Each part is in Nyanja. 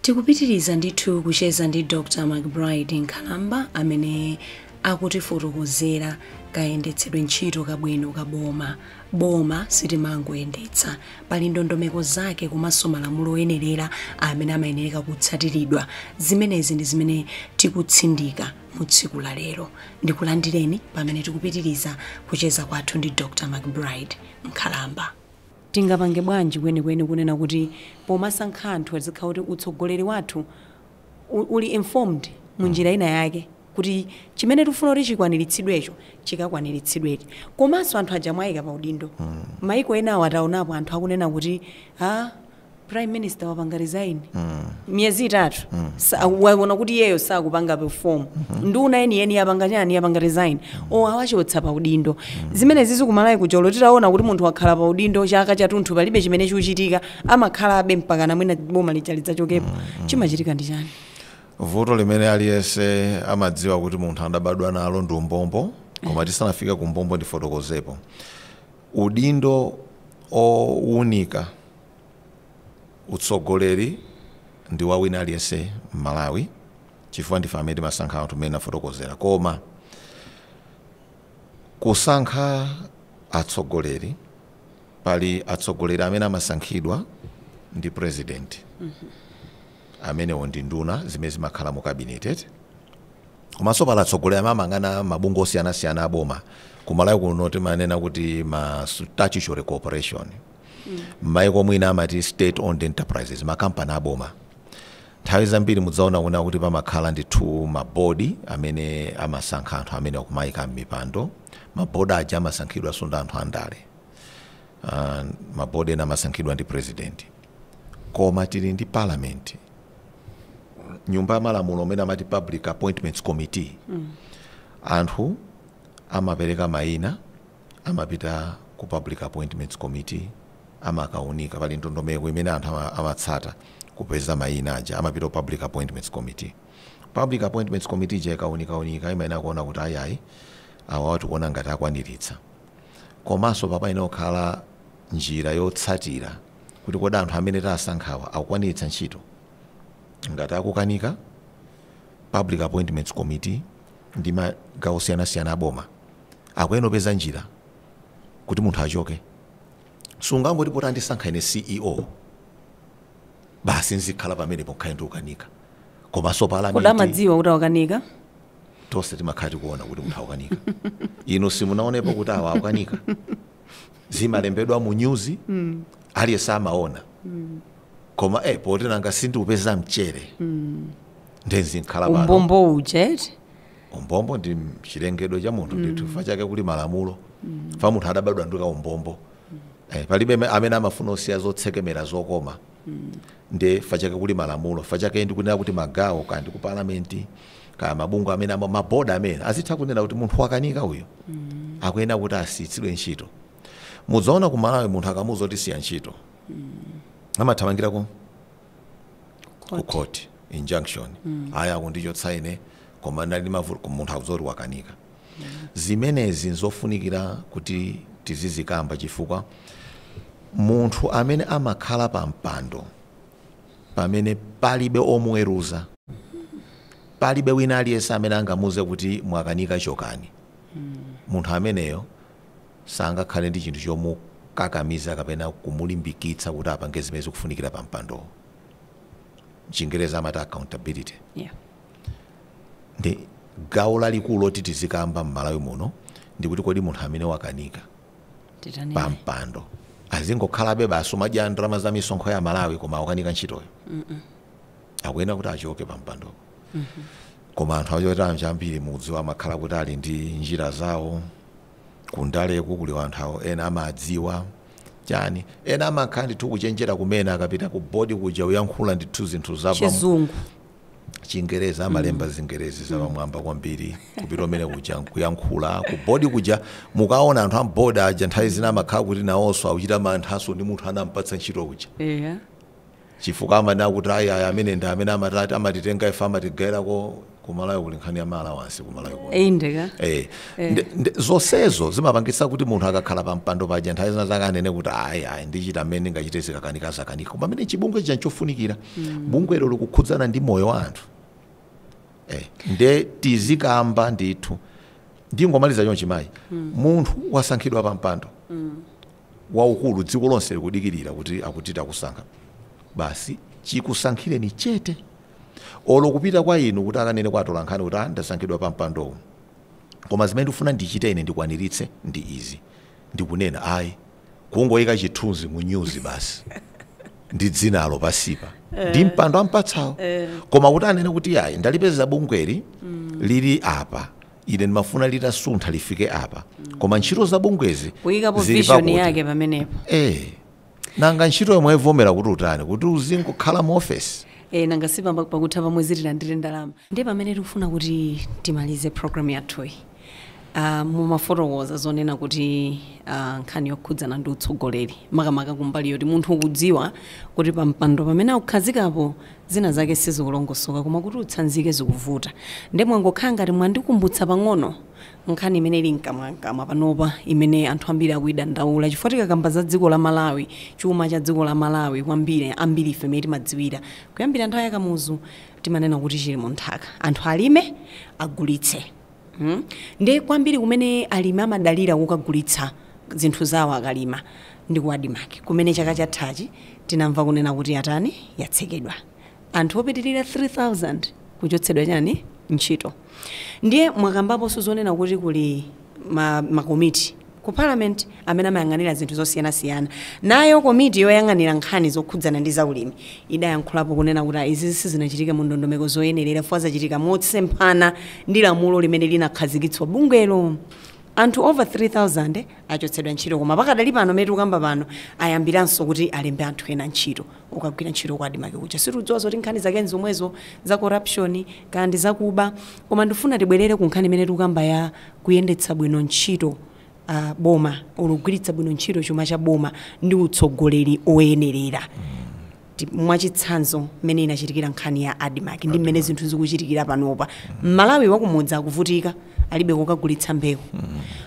tikupitiriza ndithu kucheza ndi dr mcbride nkhalamba amene akutifotokozera kayendetsedwe ntchito kabwino kaboma Boma sitimangoyendetsa. Pali ndondomeko zake komanso malamulo oyenerera amene amayenereka kutsatiridwa. Zimenezi ndi zimene tikutsindika mu tsiku la lero. Ndikulandireni pamene tikupitiriza kucheza kwathu ndi Dr. McBride Nkhalamba. Tingapange bwanji kwenikweni kunena kuti pomasankha anthu zikhala kuti utsogoleri wathu uli informed munjira ina yake kuti chimene tikufuna kuti chikwaniritsidwecho chikakwaniritsidwedi komanso anthu aja mwayika pa udindo maiko enawo taonapo anthu akunena kuti a prime minister wapanga resign miyezi itatu sa- waona kuti iyeyo sakupanga perform nduna yeniyeni yapanga chani yapanga resign o awachotsa pa udindo zimenezi kumalawi kuno olo titaona kuti munthu wakhala pa udindo chaka chatunthu palibe chimene chikuchitika amakhalabe mpakana mwina boma lija lidzachokepo chimachitika ndi chani vuto limene aliyense amadziwa kuti munthu adabadwa nalo ndi umbombo koma tisanafike ku umbombo ndifotokozepo udindo owunika utsogoleri ndi wa wina aliyense mmalawi chifukwa ndife amene timasankha anthu mmene ndafotokozera koma kusankha atsogoleri pali atsogoleri amene amasankhidwa ndi president amenewo ndi nduna zimene zimakhala mu cabinet eti komanso pali atsogoleri amene amayang'ana mabungwe osiyanasiyana a boma kumalawi kuno timanena kuti ma statutory corporation m'maiko mwina amati state owned enterprises makampani a boma Nthawi zambiri mudzaona kunena kuti pamakhala ndithu ma board amene amasankha anthu amenewa kumawaika mmipando. Ma board aja amasankhidwanso ndi anthu andale. Ma board ena amasankhidwa ndi president. Koma tili ndi parliament, nyumba ya malamulo imene amati public appointments committee, anthu amapereka maina, amapita ku Public Appointments Committee amakaunika, pali ndondomeko imene anthu amatsata kupeza maina aja amapita ku Public Appointments Committee. Public Appointments Committee ija ikaunikaunika imayenera kuona kuti ayayi awawa tikuona ngati akwaniritsa. Komanso apa payenera kukhala njira yotsatira kuti kodi anthu amene tasankhawa akukwaniritsa ntchito. Ngati akukanika, Public Appointments Committee ndi magawo osiyanasiyana a boma akuyenera kupeza njira kuti munthu achoke sungangoti poti andisankha ine ceo basi nzikhala pamene pokhala ndikukanika komanso kodi palamenti amadziwa kuti awa akanika tonse timakhala tikuona kuti munthu akukanika inu simunaonepo kuti awa akukanika zimalembedwa mu nyuzi aliyense amaona koma eh, poti nanga sindikupeza mchere ndiye nzikhala pano umbombo uja eti umbombo ndi chilengedwe cha munthu ndithu chifukwa chake kuli malamulo fa munthu adabadwa ndi kaumbombo eh, palibe ame- amene amafuna kusiya zotsekemera zokoma nde fa chake kuli malamulo fa chake ndikunena kuti magawo kaya ndi ku palamenti kaya mabungwe amene ama- maboda amene azitha kunena kuti munthu wakanika uyu akuyenera kuti asiyitsidwe ntchito mudzaona ku malawi munthu akamuza kuti siya ntchito amathamangira ku ku Court. court injunction ayi akundichotsa ine koma ndali mavuto munthu auze zoti wakanika zimenezi nzofunikira kuti tizizikamba chifukwa munthu amene amakhala pa mpando pamene palibe omuweruza palibe wina aliyense amene angamuuze kuti mwakanika chokani munthu ameneyo Sangakhale ndi chinthu chomukakamiza kapena kumulimbikitsa kuti apange zimene zikufunikira pa mpandowo. M'Chingerezi amati accountability. Yeah. Ndi gawo lalikulu loti tizikamba m'Malawi muno ndi kuti kodi munthu amene wakanika pa mpando azingokhalabe basi kumadya ndalama za misonkho ya aMalawi koma akukanika ntchitoyo? Akuyenera kuti achoke pa mpandowo. koma anthu achoterowo ambiri mukudziwa amakhala kuti ali ndi njira zawo kundaleku kuli anthu awo ena amadziwa chani ena amakhala ndithu kuchenjera kumene akapita ku bodi kuja kuyankhula ndithu zinthu zapa chizungu chingerezi amalemba zingerezi zapamwamba kwambiri kupita kumene kuja kuyankhula ku bodi kuja mukaona anthu a m'bodi aja nthawi zina amakhala kuti nawonso akuchita manthanso ndi munthu anamupatsa ntchito kuja eya chifukwa amanena kuti ayi ayi amene ndi amene amatati amatitenga ife amatigairako kumalawi kuli nkhani ya maalawansi kumalawi kuno Eh, inde ka Eh, ndi- ndi- zonsezo zimapangitsa kuti munthu akakhala pa mpando paja nthawi zinazake anene kuti ayi ayi ndichita mmene ndingachite zikakanika zakanika koma pamene chibungwe chija nchofunikira bungwelo likukhudzana ndi moyo wa anthu eh, nde tizikamba ndithu ndingomaliza chonchi mayi munthu wasankhidwa pa mpando waukulu dziko lonse likudikirira kuti akuti takusankha basi chikusankhireni chete olo kupita kwa inu kuti akanene kwa atolankhani kuti "Ah, ndasankhidwa pa mpandowu koma zimene ndikufuna ndichite ine ndikwaniritse ndi izi ndikunena ayi kungoyika chithunzi mu nyuzi basi ndi dzinalo pansipa ndi mpando ampatsawo koma kuti anene kuti ayi ndalipeza bungweli lili apa Ine ndimafuna litasuntha lifike apa koma ntchito za bungwezi kuyikapo vision yake pamenepo Eh, nanga ntchito yomwe ivomera kuti utani kuti uzingokhala mu ofesi e, nanga si pakutha pa mwezi tilandire ndalama ndi pamene tikufuna kuti timalize programu yathuyi uh, mumafotokoza zonena kuti uh, nkhani yokhudzana ndi utsogoleri makamaka kumbali yoti munthu ukudziwa kuti pampando pamene akukhazikapo Zina zake sizikulongosoka koma kuti utsanzike zikuvuta. Nde mwangokhala ngati mwandikumbutsa pang'ono nkhani imene ili mkamwamkamwa panopa imene anthu ambiri akuidandaula chifukwa tikakamba za dziko la Malawi, chuma cha dziko la Malawi kwambiri ambirife mmene timadziwira kuyambira nthawi ya Kamuzu timanena kuti chili mu nthaka. Anthu alime, agulitse. Hmm nde kwambiri kumene alimi amadalira kukagulitsa zinthu zawo akalima ndi ku Admarc kumene chaka chathachi tinamva kunena kuti atani yatsekedwa anthu opitilira 3000 kuchotsedwa chani ntchito ndiye mwakambaponso zonena kuti kuli ma ma komiti Ku Parliament, amene amayang'anira zinthu zosiyanasiyana, nayo komiti yoyang'anira nkhani zokhudzana ndi zaulimi idayankhulapo kunena kuti izizi sizinachitike mu ndondomeko zoyenerera chifukwa zachitika motsemphana ndi lamulo limene linakhazikitsa bungwelo. Anthu over 3000 achotsedwa ntchito koma pakadali pano mmene tikukamba pano ayambiranso kuti alembe anthu ena ntchito. ukagwira ntchito ku Admarc kuja situdziwa zoti nkhani zake nzomwezo za corruption kaya ndi zakuba koma ndifuna tibwerere ku nkhani imene tikukamba ya kuyendetsa bwino ntchito boma olo kugwiritsa bwino ntchito chuma cha boma ndi utsogoleri oyenerera mwachitsanzo mmene inachitikira nkhani ya Admarc ndi mmene zinthu zikuchitikira panopa Malawi wakumudzi akuvutika alibe kokagulitsa mbewu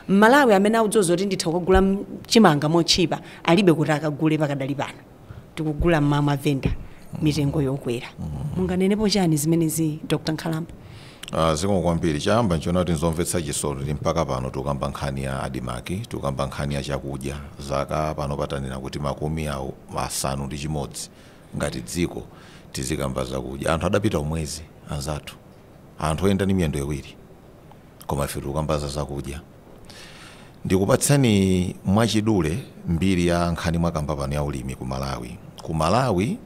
M'malawi amene akudziwa zoti nditha kukagula chimanga motchipa alibe koti akagule pakadali pano. tikugula m'mavenda mitengo yokwera munganenepo chani zimenezi dr nkhalamba Ah, zikomo kwambiri choyamba nchonena kuti nzomvetsa chisoni kuti mpaka pano tikukamba nkhani ya Admarc tikukamba nkhani ya chakudya zaka pano titanena kuti makumi awo asanu ndi chimodzi ngati dziko tizikamba zakudya anthu adapita kumwezi anzathu anthu oyenda ndi miyendo iwiri koma ife tikukamba za zakudya Ndikupatseni mwachidule mbiri ya nkhani mwakamba pano ya ulimi ku Malawi. Ku Malawi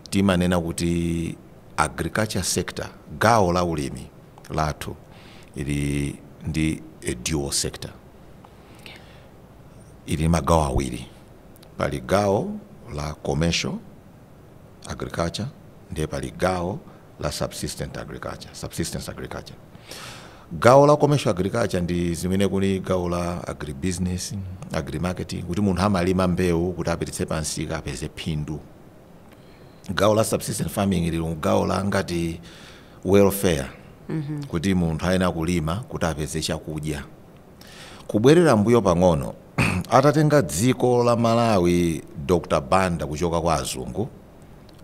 timanena kuti agriculture sector, gawo la ulimi lathu ili ndi a dual sector. Ili ndi magawo awiri, pali gawo la commercial agriculture ndiye pali gawo la subsistent agriculture, subsistence agriculture. Gawo la commercial agriculture ndi zimene kuli gawo la agribusiness, agrimarketing kuti munthu amalima mbewu kuti apititse pansika apeze phindu. Gawo la subsistence farming lili gawo la ngati welfare kuti munthu ayenera kulima kuti apeze chakudya. Kubwerera mbuyo pang'ono atatenga dziko la Malawi Dr. Banda kuchoka kwa azungu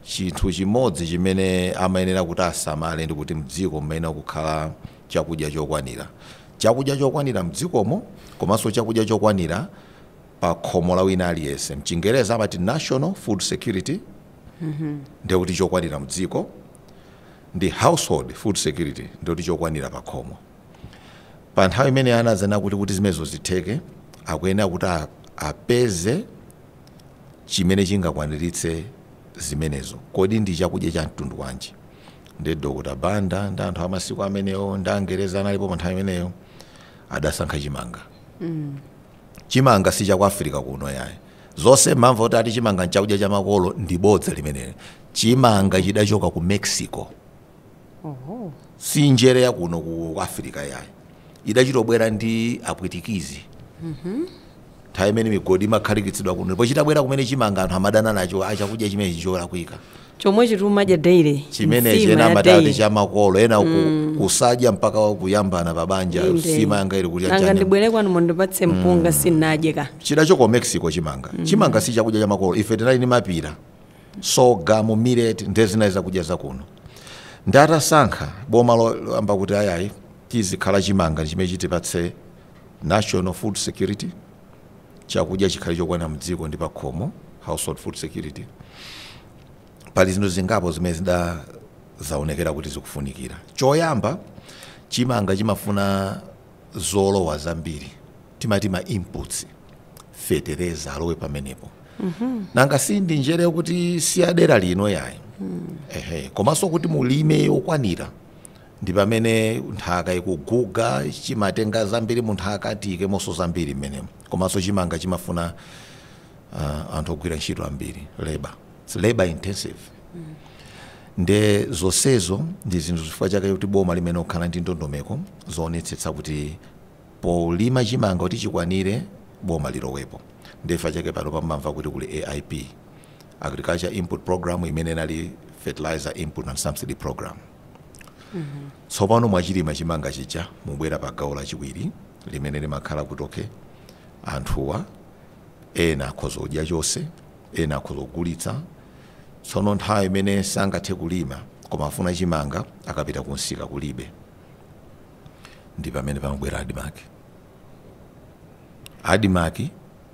Chinthu chimodzi chimene amayenera kuti asamale ndi kuti mdziko mumayenera kukhala chakudya chokwanira. Chakudya chokwanira mdzikomo komanso chakudya chokwanira pa khomo la wina aliyense. Mchingerezi amati National Food Security ndiye kuti chokwanira mdziko ndi Household Food Security ndiye kuti chokwanira pa khomo. Pa nthawi imeneyo anazaona kuti kuti zimenezo zitheke akuyenera kuti apeze. chimene chingakwaniritse zimenezo. Kodi ndi chakudya cha mtundu wanji? Ndi Dr. Banda ndi anthu a masiku amenewo ndi Angerezi analipo pa nthawi imeneyo adasankha chimanga. Chimanga si cha ku Africa kuno yayi. Zonse mmamva kuti ati chimanga n'chakudya cha makolo ndi bodza limeneli. Chimanga chidachoka ku Mexico. Oho. si njere ya kuno ku africa yayi idachitobwera ndi apwitikizi nthawi imene migodi imakhalikitsidwa kuno ndipo chitabwera kumene chimanga anthu amadana nacho "Ah, chakudya chimene chicholakwika chomwe chija timadya daily chimene nsima chena ya amatati daily. cha makolo ena ku- kusadya mpaka kuyambana pa banja Inde. nsima yanga ili kuti nanga chanya ndibwere kwanu mundipatse mpunga sinadye ka chidachoka ku mexico chimanga chimanga si chakudya cha makolo ife tinali ni mapira sorghum millet ndiye zinali zakudya zakuno ndiye itasankha boma loyamba kuti ayayi chizikhala chimanga ndi chimene chitipatse national food security chakudya chikhale chokwana mdziko ndi pakhomo household food security pali zinthu zingapo zimene zidazaonekera kuti zikufunikira choyamba chimanga chimafuna zolowa zambiri timati ma inputs fetereza alowe pamenepo nanga si ndi njere yoti si ya dera lino yayi ehe komanso kuti mulime yokwanira ndi pamene nthaka ikuguga chimatenga zambiri mu nthaka tiikemonso zambiri mmenemo komanso chimanga chimafuna ah, anthu ogwira ntchito ambiri leba It's labor intensive nde zonsezo ndi zinthu zifukwa chake kuti boma limayenera kukhala ndi ndondomeko zoonetsetsa kuti polima chimanga kuti chikwanire boma lilowepo nde chifukwa chake pano mumamva kuti kuli aip agriculture input program imene inali fertilizer input and subsidy program tsopano mwachilima chimanga chija mubwera pa gawo lachiwiri limene limakhala kuti okay anthuwa ena akhoza kudya chonse Ena akhoza kugulitsa. Tsono nthawi imene sangathe kulima koma afuna chimanga akapita kumsika kulibe, ndi pamene pamabwera Admarc. Admarc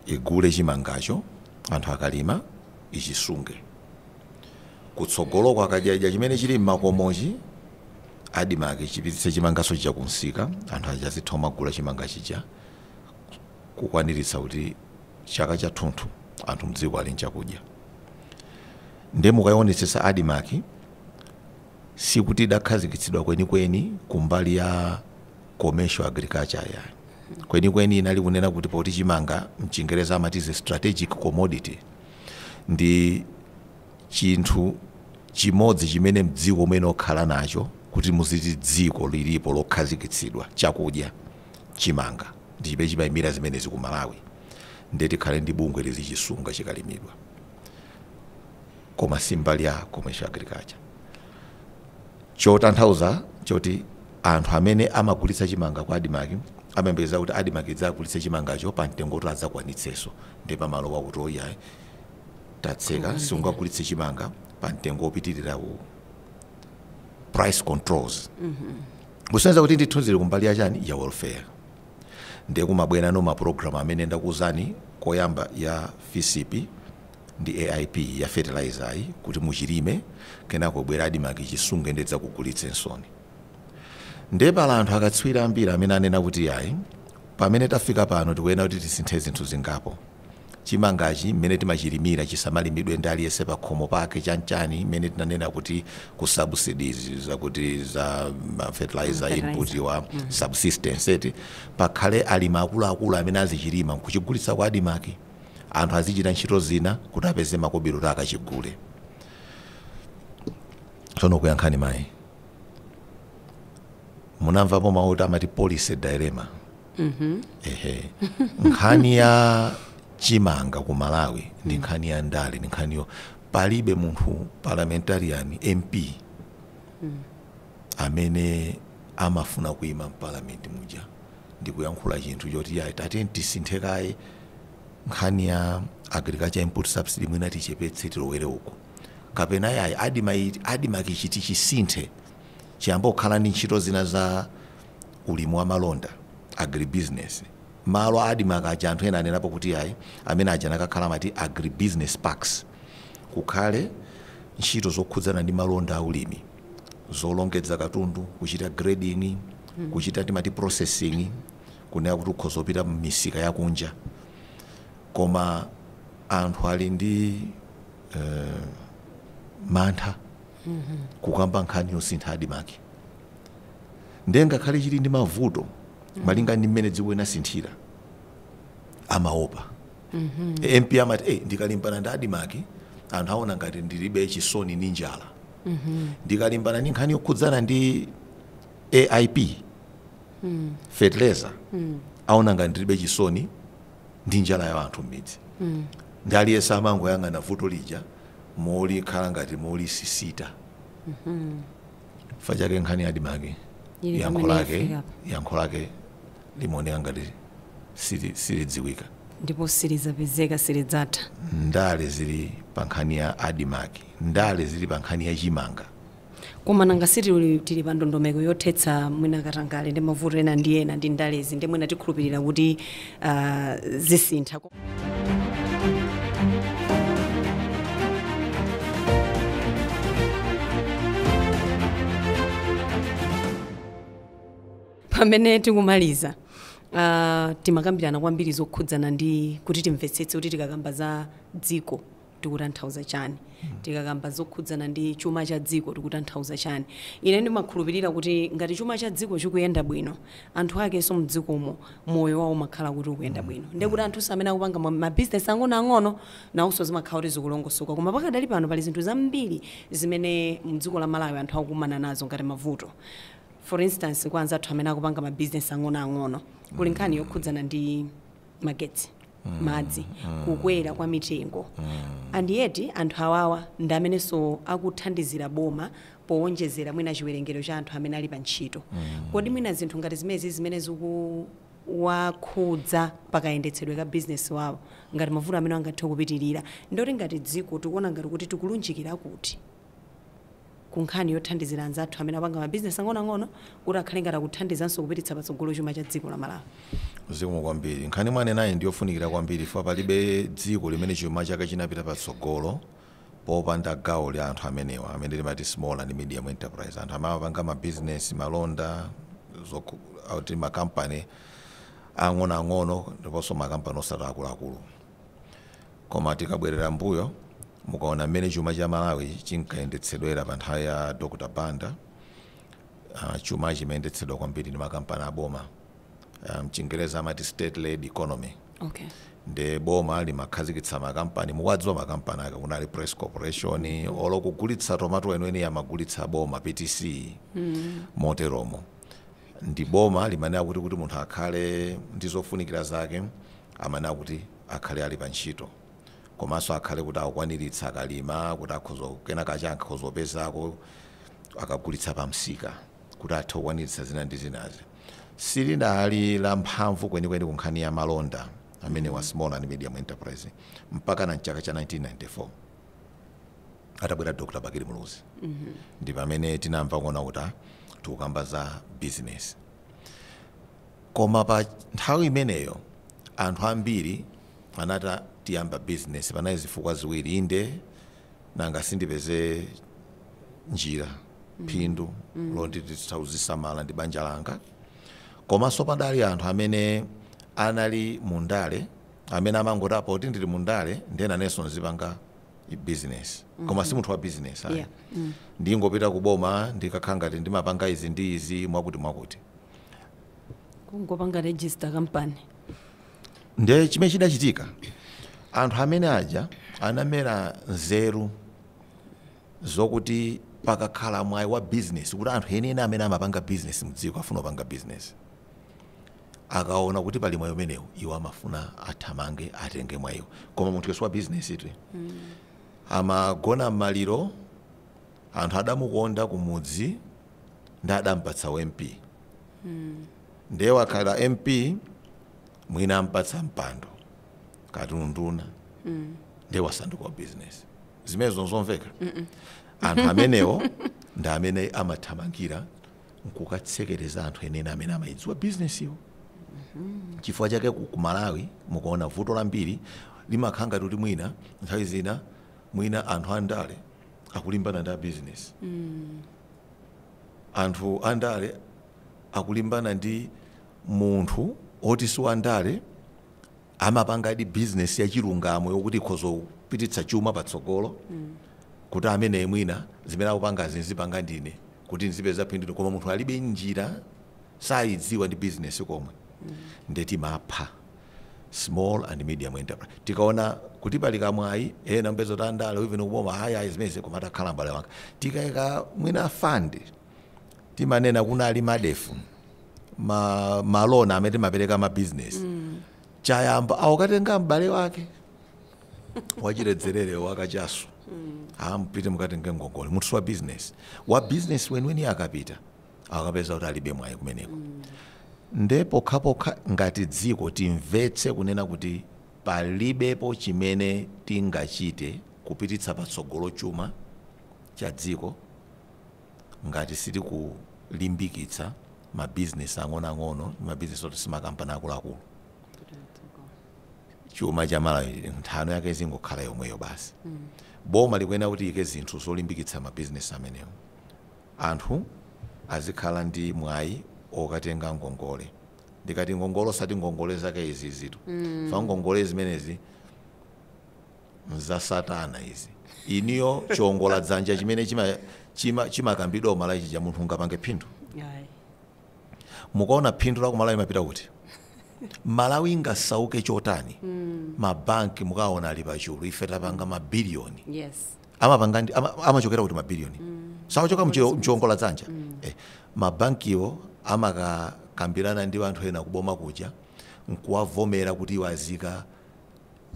igule chimangacho, anthu akalima ichisunge. Kutsogoloko akadya idya chimene chili m'makomochi, Admarc chipititse chimanganso chija kumsika, anthu aja azitha kumagula chimanga chija kukwaniritsa kuti. chaka chathunthu anthu mdziko ali nchakudya nde mukayionetsetsa admarc sikuti idakhazikitsidwa kwenikweni kumbali ya commercial agriculture yayi kwenikweni inali kunena kuti poti chimanga mchingereza amati is a strategic commodity ndi chinthu chimodzi chimene mdziko mumayenera kukhala nacho kuti muziti dziko lilipo lokhazikitsidwa chakudya chimanga ndi chimene chimaimira zimenezi ku Malawi ndiye tikhale ndi bungwe lizichisunga chikalimidwa koma si mbali ya commercial agriculture chotanthauza choti anthu amene amagulitsa chimanga kwa Admarc amayembekeza kuti Admarc idzagulitse chimangacho pa mtengo woti adzakwanitseso ndiye pamalowa kuti oyayi tatseka sungagulitse chimanga pa mtengo wopitirira uwu price controls kusonyeza kuti ndithu zili kumbali ya chani ya welfare ndiye kumabwerano mapulogalamu amene ndakuwuzani koyamba ya fisp ndi aip ya fertilizer yi kuti muchilime kenako abwere admarc chisunge nde adzakugulitseninso ndiye pali anthu akatswiri ambiri amene anena kuti yayi pamene tafika pano tikuyenera kuti tisinthe zinthu zingapo chimangachi mmene timachilimira chisamalimidwe ndi aliyense pakhomo pake chanchani mmene tinanena kuti ku subsidies zakuti za ma fertilizer input wa subsistence eti pakhale alimi akuluakulu amene azichilima nkuchigulitsa kwa admarc anthu azichita ntchito zina kuti apeze makobiri kuti akachigule tsono kuyankhani mayi Munamvapo mau oti amati policy dilemma? Ehe. Nkhani ya chimanga ku Malawi ndi nkhani ya ndale, ndi nkhaniyo. Palibe munthu, parliamentarian, MP, amene amafuna kuima m'Parliament muja ndi kuyankhula chinthu choti iyayi tatiyeni tisinthe kaye nkhani ya agriculture input subsidy mwina tichepetse tilowere uko, kapena iyayi Admarc chiti tichisinthe. chiyambe kukhala ndi ntchito zina za ulimi wa malonda, agribusiness. Malo a Admarc aja anthu ena anenapo kuti iyayi amene aja akanakhala amati agribusiness parks. Kukhale ntchito zokhudzana ndi malonda a ulimi, zolongedza katundu, kuchita grading, kuchita timati processing, kunena kuti ukhoza kupita m'misika ya kunja. Koma anthu ali ndi eh, mantha kukamba nkhani yosintha Admarc nde ngakhale chili ndi mavuto malinga ndi mmene dziko linasinthira amaopa. MP amati eh ndikalimbana ndi Admarc anthu aona ngati ndilibe chisoni ndi njala. Ndikalimbana ndi nkhani yokhudzana ndi AIP fertilizer aona ngati ndilibe chisoni ndi njala ya anthu m'midzi nde aliyense amangoyang'ana vuto lija molikhala ngati molisisita chifukwa chake nkhani ya Admarc yankho lake limaoneka ngati silidziwika ndipo silizapezeka silidzatha ndale zili pa nkhani ya Admarc ndale zili pa nkhani ya chimanga Koma nanga si tili tili pa ndondomeko yothetsa mwina katangale ndi mavuto ena ndi ena ndi ndalezi nde mwina tikhulupirira kuti ah, zisintha. pamene tikumaliza ah, timakambirana kwambiri zokhudzana ndi kuti timvetsetse kuti tikakamba za dziko tikutanthauza chani? Tikakamba zokhudzana ndi chuma cha dziko tikutanthauza chani? Ine ndimakhulupirira kuti ngati chuma cha dziko chikuyenda bwino, anthu akenso mdzikomo moyo wawo umakhala kuti ukuyenda bwino. Ndiye kuti anthunso amene akupanga ma, ma business ang'ono ang'ono nawonso zimakhala kuti zikulongosoka. Koma pakadali pano pali zinthu zambiri zimene mdziko la Malawi anthu akukumana nazo ngati mavuto. For instance kwa anzathu amene akupanga ma business ang'ono ang'ono, kuli nkhani yokhudzana ndi. magetsi madzi kukwera kwa mitengo and yet anthu awawa ndi amenenso akuthandizira boma powonjezera mwina chiwerengero cha anthu amene ali pa ntchito kodi mwina zinthu ngati zimenezi zimene zikuwakhudza pakayendetsedwe ka bizinesi wawo ngati mavuto amene angathe kupitirira ndoti ngati dziko tikuona ngati kuti tikulunjikira kuti ku nkhani yothandizira anzathu amene apanga ma business ang'onoang'ono kuti akhale ngati akuthandizanso kupititsa patsogolo chuma cha dziko la Malawi. Zikomo kwambiri. Nkhani mwanenayi ndi yofunikira kwambiri chifukwa palibe dziko limene chuma chake chinapita patsogolo popanda gawo la anthu amenewa amene timati small and medium enterprise, anthu amene amapanga ma business, malonda, ma company ang'onoang'ono ndiponso ma company osati akuluakulu. Koma tikabwerera m'mbuyo, mukaona mmene chuma cha Malawi chinkayendetsedwera pa nthawi ya Dr Banda, ah, chuma chimayendetsedwa kwambiri ndi makampani a boma. Ah, Mchingerezi amati state led economy. Okay. Nde boma limakhazikitsa makampani, mukuwadziwa makampani ake, kunali Press Corporation, olo kugulitsa tomato weniweni amagulitsa boma, PTC, moteromo. Ndi boma limanena kuti munthu akhale ndi zofunikira zake, amanena kuti akhale ali pa ntchito komanso akhale kuti akukwaniritsa akalima kuti akhoza kenakake akhoza kupezako akagulitsa pa msika kuti athe kukwaniritsa zina ndi zinazi silinali la mphamvu kwenikweni ku nkhani ya malonda amenewa small and medium enterprise mpakana mchaka cha 1994 atabwera dr bakili muluzi ndi pamene tinamva kuona kuti ah, tikukamba za business Koma pa nthawi imeneyo anthu ambiri anati tiyamba bizinesi. Panali zifukwa ziwiri, inde nanga sindipeze njira, phindu loti nditha kuzisamala ndi banja langa. Komanso padali anthu amene anali mu ndale amene amangoti apa poti ndili mu ndale ndiye nanenso nzipanga business koma mm -hmm. si munthu wa business ayi yeah. mm. ndingopita ku boma ndikakhala ngati ndimapanga izi ndi izi mwakuti mwakuti kungopanga register company ndiye chimene chidachitika anthu amene aja anamera nzeru zokuti pakakhala mwayi wa business kuti anthu enieni amene amapanga business mdziko ofuna kupanga business Akaona kuti pali mwayi umenewu, iwo amafuna athamange atenge mwayiwo. Koma munthuyo si wa bizinesitu. Amagona m'maliro, anthu adamukonda kumudzi ndiye adampatsa u MP. Ndiye wakhala MP, mwina ampatsa mpando kaya unduna ndiye wasanduka wa bizinesi. Zimenezo n'zomveka? Anthu amenewo ndi amene amathamangira nkukatsekereza anthu enieni amene amayidziwa bizinesiyo chifukwa chake ku malawi mukaona vuto lambiri limakhala ngati kuti mwina nthawi zina mwina anthu andale akulimbana ndi abizinesi anthu andale akulimbana ndi munthu oti si wandale amapangadi business ya chilungamo yokuti ikhoza kupititsa chuma patsogolo kuti ameneyi mwina zimene akupangazi nzipanga ndine kuti nzipeza phindu ine koma munthu alibe njira sayidziwa ndi business komwe nde timati pa small and medium enterprise tikaona kuti pali kamwayi ena mpezo kuti andale even kuboma ayi ayi zimenezi koma takhala mbale wanga tikaika mwina fund timanena kunali MARDEF ma, ma loan amene timapereka ma business choyamba akukatenga m'bale wake wachiledzerere wakachasu apite akatenge ngongole munthu wa business wa business weniweni akapita akapeza kuti alibe mwayi kumeneko nde pokhapokha ngati dziko timvetse kunena kuti palibepo chimene tingachite kupititsa patsogolo chuma cha dziko ngati sitikulimbikitsa ma business ang'onoang'ono ndi ma business oti simakampani akuluakulu chuma cha malawi nthano yake izingokhala yomweyo basi boma likuyenera kuti liike zinthu zolimbikitsa ma business amenewo anthu azikhala ndi mwayi okatenga ngongole ndikati ngongole osati ngongole zake izizitu mm. Pofa ngongole zimenezi nza satana izi inuyo chiongola dzanja chimene chima chima chimakambidwa ku Malawi chija munthu ungapange phindu? Ayi. Mukaona phindu la ku Malawi limapita kuti? Malawi ingasauke chotani ma bank mukawaona ali pa chulu ife tapanga ma billion Yes. amapanga ndi ama, amachokera kuti ma billion sachoka mchio- mchiongola dzanja eh, ma bankiwo amakakambirana ndi anthu ena kuboma kuja nkuwavomera kuti iwo aziika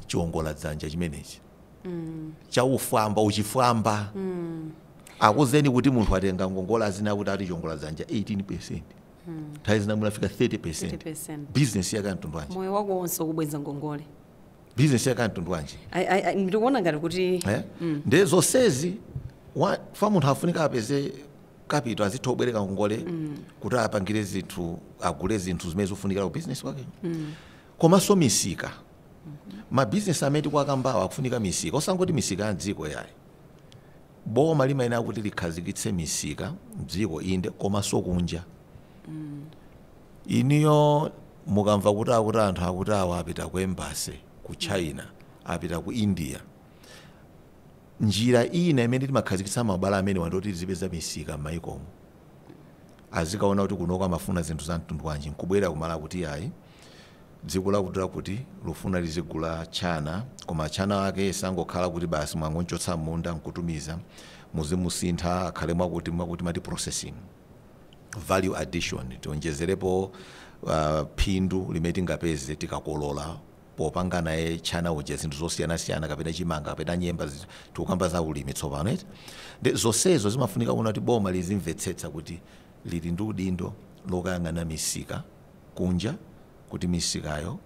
chiongola dzanja chimenechi mm. cha uchifwamba uchifwamba mm. akuzeni kuti munthu atenga ngongole azinena kuti ati chiongola dzanja 18 percent mm. nthawi zina chinafika 30 percent 30%. bizinesi yake mtundu wanji moyo wako wonse ukubwenza ngongole bizinesi yake mtundu wanji Ai- ai- ai, ndikuona ngati kuti Eh? nde zonsezi wa- fa munthu afunika apeze kapito azitha kubwereka ngongole kuti apangire zinthu agule zinthu zimene zikufunikira ku bizinesi kwake Komanso misika ma business amene tikuwakambawa akufunika misika osangoti misika ya mdziko yayi boma limayenera kuti likhazikitse misika mdziko inde komanso kunja inuyo mukamva kuti akuti anthu akuti awa apita ku embassy ku China apita ku India njira ina imene limakhazikitsa mabwalo amenewa ndiyoti lizipeza misika mmayikomo. azikaona kuti kunoko amafuna zinthu za mtundu wanji nkubwera ku Malawi kuti yayi dziko lakuti lakuti lufuna lizigula tchana koma tchana ake sangokhala kuti basi mwangonchotsa m'munda nkutumiza muzimusintha akhale mwakuti mwakuti mati processing value addition tionjezerepo uh, phindu limene tingapeze tikakolola popanga naye tchana uja zinthu zosiyanasiyana kapena chimanga kapena nyemba zi- tikukamba za ulimi tsopano eti ndi zonsezo zimafunika kuona kuti boma lizimvetsetsa kuti lili ndi udindo lokayang'ana misika kunja kuti misikayo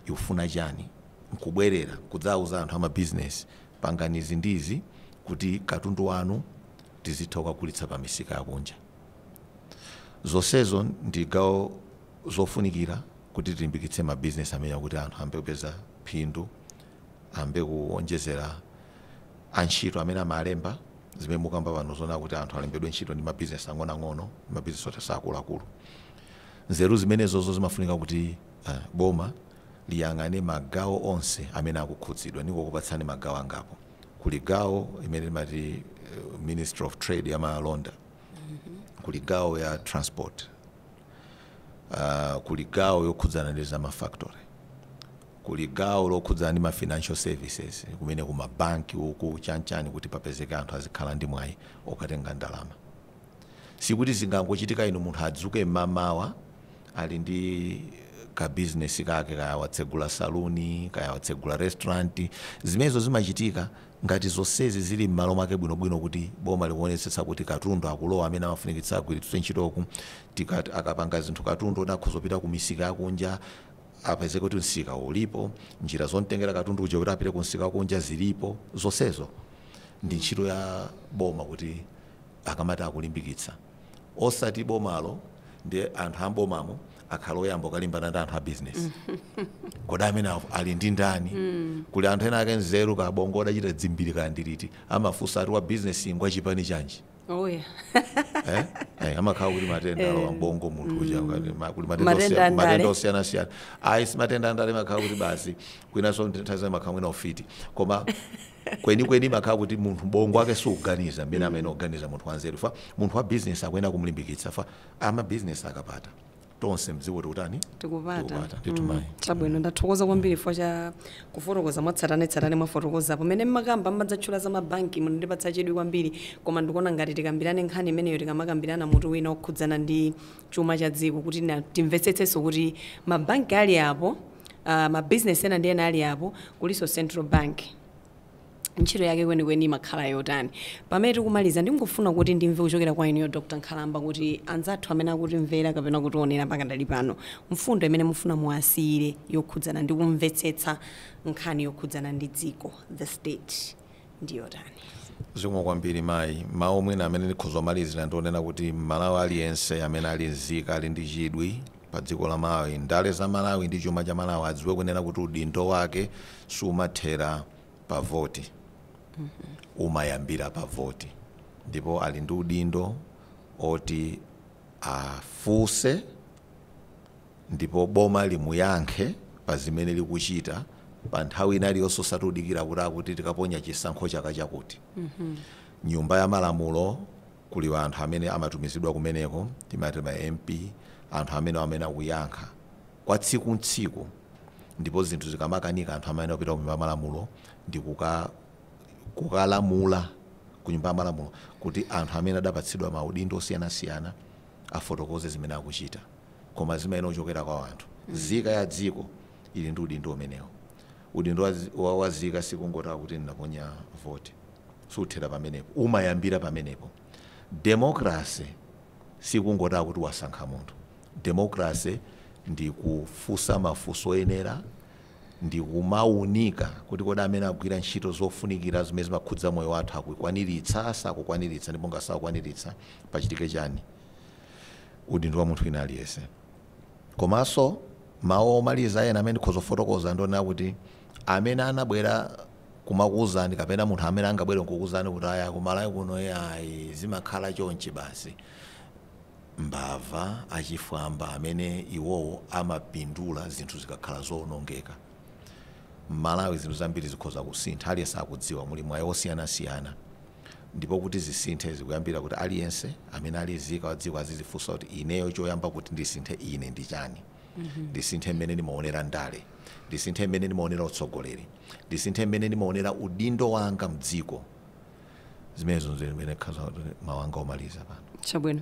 ikufuna chani nkubwerera kudzauza anthu amabizinesi pangani izi ndi izi kuti katundu wanu tizitha kukagulitsa pa misika yakunja zonsezo ndi gawo zofunikira Kuti tilimbikitse ma business amenewa kuti anthu ayambe kupeza phindu, ayambe kuonjezera antchito amene amalemba, zimene mukukamba pano zoona kuti anthu alembedwe ntchito ndi ma business ang'onoang'ono ndi ma business oti siakuluakulu. Nzeru zimenezozo zimafunika kuti boma liyang'ane ma gawo onse amene akukhudzidwa. Ndingokupatsani ma gawo angapo. Kuli gawo limene timati Ministry of Trade ya malonda, kuli gawo ya transport, uh, kuli gawo yokhudzana ndi za mafactory kuli gawo lokhudzana ndi ma financial services kumene ku mabanki uku chanchani kuti papezeke anthu azikhala ndi mwayi okatenga ndalama sikuti zingangochitika inu munthu adzuke mmamawa ali ndi ka business kake kaya watsegula saluni kaya watsegula restaurant zimenezo zimachitika Ngati zonsezi zili m'malo mwake bwinobwino kuti boma likuonetsetsa kuti katundu akulowa amene amafunikitsa agwiritsidwe ntchito kuti akapanga zinthu katundu oti akhoza kupita kumisika yakunja apezeke kuti msika ulipo, njira zotengera katundu uja kuti apite kumsika wakunja zilipo, zonsezo ndi ntchito ya boma kuti akamati akulimbikitsa. osati bomalo ndi anthu a m'bomamo akhale oyamba kukalimbana ndi anthu a bizinesi kodi amene awo ali ndi ndani kuli anthu ena ake nzeru kaya bongo udachita dzimbiri kaya ndiliti amafunsa ati wa bizinesi ngwa chipani chanji oya eh? eh, amakhala kuti matenda alowa mbongo munthu uja ngati ma- kuli matenda Matenda osiya- andale. matenda osiyanasiyana ayi si matenda andale makhala kuti basi kwinaso nthawi zina makhala mwina ufiti koma Kwenikweni imakhala kuti munthu bongo wake sukuganiza mmene amayenera kuganiza munthu wanzeru chifukwa munthu wa bizinesi akuyenera kumlimbikitsa chifukwa amabizinesi akapata, tonse m'dziko tikutani? Tikupata. Tikupata. Ndithu Mm, mayi. Chabwino, ndathokoza kwambiri chifukwa cha kufotokoza mwatsatanetsatane mwafotokozapo. Mmene mmakamba mmadzatchula za mabanki munandipatsa chidwi kwambiri koma ndikuona ngati tikambirane nkhani imeneyo tikamakambirana mutu wina wokhudzana ndi chuma cha dziko kuti na, timvetsetsenso kuti ma bank ali apo, uh, ma business ena ndi ena ali apo, kulinso central bank. Ntchito yake kwenikweni imakhala yotani? Pamene tikumaliza, ndingofuna kuti ndimve kuchokera kwa inuyo Dr. Nkhalamba kuti anzathu amene akutimvera kapena kutionera pakadali pano, mfundo imene mufuna muwasiyire yokhudzana ndi kumvetsetsa nkhani yokhudzana ndi dziko, the state. ndi yotani? Zikomo kwambiri mayi. Mawu mwina amene ndikhoza kumalizira ndi onena kuti m'Malawi aliyense amene ali nzika ali ndi chidwi pa dziko la Malawi, ndale za Malawi ndi chuma cha Malawi adziwe kunena kuti udindo wake siumathera pa voti, umayambira pa voti ndipo ali ndi udindo oti. afuse ndipo boma limuyankhe pazimene likuchita panthawi ina iliyonse osati kudikira kuti akuti tikaponya chisankho chaka chakuti. Nyumba ya malamulo kuli anthu amene amatumizidwa kumeneko timati ma MP anthu amenewo amene akuyankha kwa tsiku ndi tsiku ndipo zinthu zikamakanika anthu amayenera kupita kunyumba ya malamulo ndikuka. kukalamula ku Nyumba ya Malamulo kuti anthu amene adapatsidwa maudindo osiyanasiyana afotokoze zimene akuchita. Koma zimayenera kuchokera kwa anthu. Nzika ya dziko ili ndi udindo umenewo. Udindo wa, wa, wa nzika sikungoti akuti ndinaponya voti. Siuthera pamenepo. Umayambira pamenepo. Democracy sikungoti akuti wasankha munthu. Democracy ndi kufunsa mafunso oyenera ndi kumaunika kuti kodi amene akugwira ntchito zofunikira zimene zimakhudza moyo wathu akukwaniritsa, sakukwaniritsa ndipo ngati sakukwaniritsa pachitike chani. Udindo wa munthu wina aliyense. Komanso mawu omaliza ena amene ndikhoza kufotokoza ndi onena kuti amene anabwera kumakuwuzani kapena munthu amene angabwere nkukuwuzani kuti aya ku Malawi kuno ee ayi zimakhala chonchi basi, mbava, achifwamba amene iwowo amapindula zinthu zikakhala zoonongeka. M'Malawi zinthu zambiri zikhoza kusintha, aliyense akudziwa, muli mwayi wosiyanasiyana ndipo kuti zisinthe zikuyambira kuti aliyense amene ali nzika wa dziko azidzifunsa kuti ineyo choyamba kuti ndisinthe ine ndi chani, ndisinthe mmene ndimaonera ndale, ndisinthe mmene ndimaonera utsogoleri, ndisinthe mmene ndimaonera udindo wanga m'dziko. zimenezo nzimene ndikhoza mawu anga omaliza pano chabwino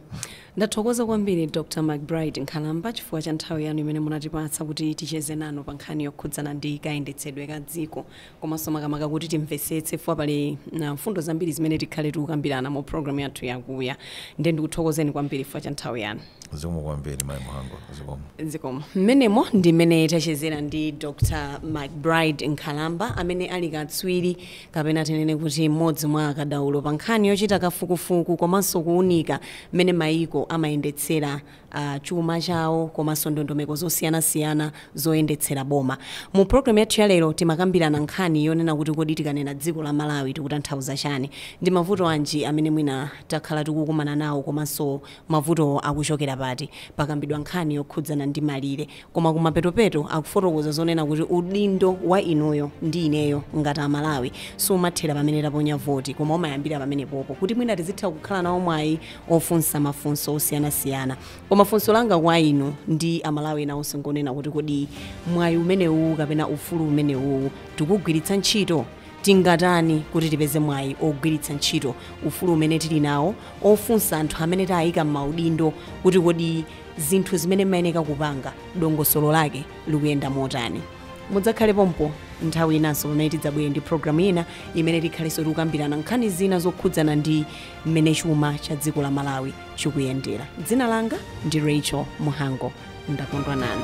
ndathokoza kwambiri dr mcbride nkhalamba chifukwa cha nthawi yanu imene munatipatsa kuti ticheze nanu pa nkhani yokhudzana ndi kayendetsedwe ka dziko komanso makamaka kuti timvetsetse chifukwa pali mfundo zambiri zimene tikhale tikukambirana mu programu yathu ya kuya ndiye ndikuthokozeni kwambiri chifukwa cha nthawi yanu zikomo kwambiri mayi muhango zikomo zikomo mmenemo ndi mmene tachezera ndi dr mcbride nkhalamba amene ali katswiri kapena tinene kuti mmodzi mwa akadaulo pa nkhani yochita kafukufuku komanso kuunika mmene mayiko amayendetsera chuma chawo komanso ndondomeko zosiyanasiyana zoyendetsera boma. Mu programme yathu ya lero timakambirana nkhani yonena kuti kodi tikanena dziko la Malawi tikutanthauza chani? Ndi mavuto anji amene mwina takhala tikukumana nawo komanso mavutowo akuchokera pati? Pakambidwa nkhani yokhudzana ndi malire. koma kumapetopeto akufotokoza zonena kuti udindo wa inuyo ndi ineyo ngati amalawi sumathera pamene taponya voti koma umayambira pamenepopo kuti mwina tizitha kukhala nawo mwayi ofunsa mafunso osiyanasiyana koma funso langa kwa inu ndi amalawi ena onse ngonena kuti kodi mwayi umenewu kapena ufulu umenewu tikugwiritsa ntchito tingatani kuti tipeze mwayi ogwiritsa ntchito ufulu umene tili nawo ofunsa anthu amene tayika m'maudindo kuti kodi zinthu zimene mumayeneka kupanga, dongosolo lake likuyenda motani. Mudzakhale pompo nthawi inanso pamene tidzabwere ndi programu ina imene tikhalenso tikukambirana nkhani zina zokhudzana ndi mmene chuma cha dziko la Malawi chikuyendera. Dzina langa ndi Racheal Muhango. Ndakondwa nanu.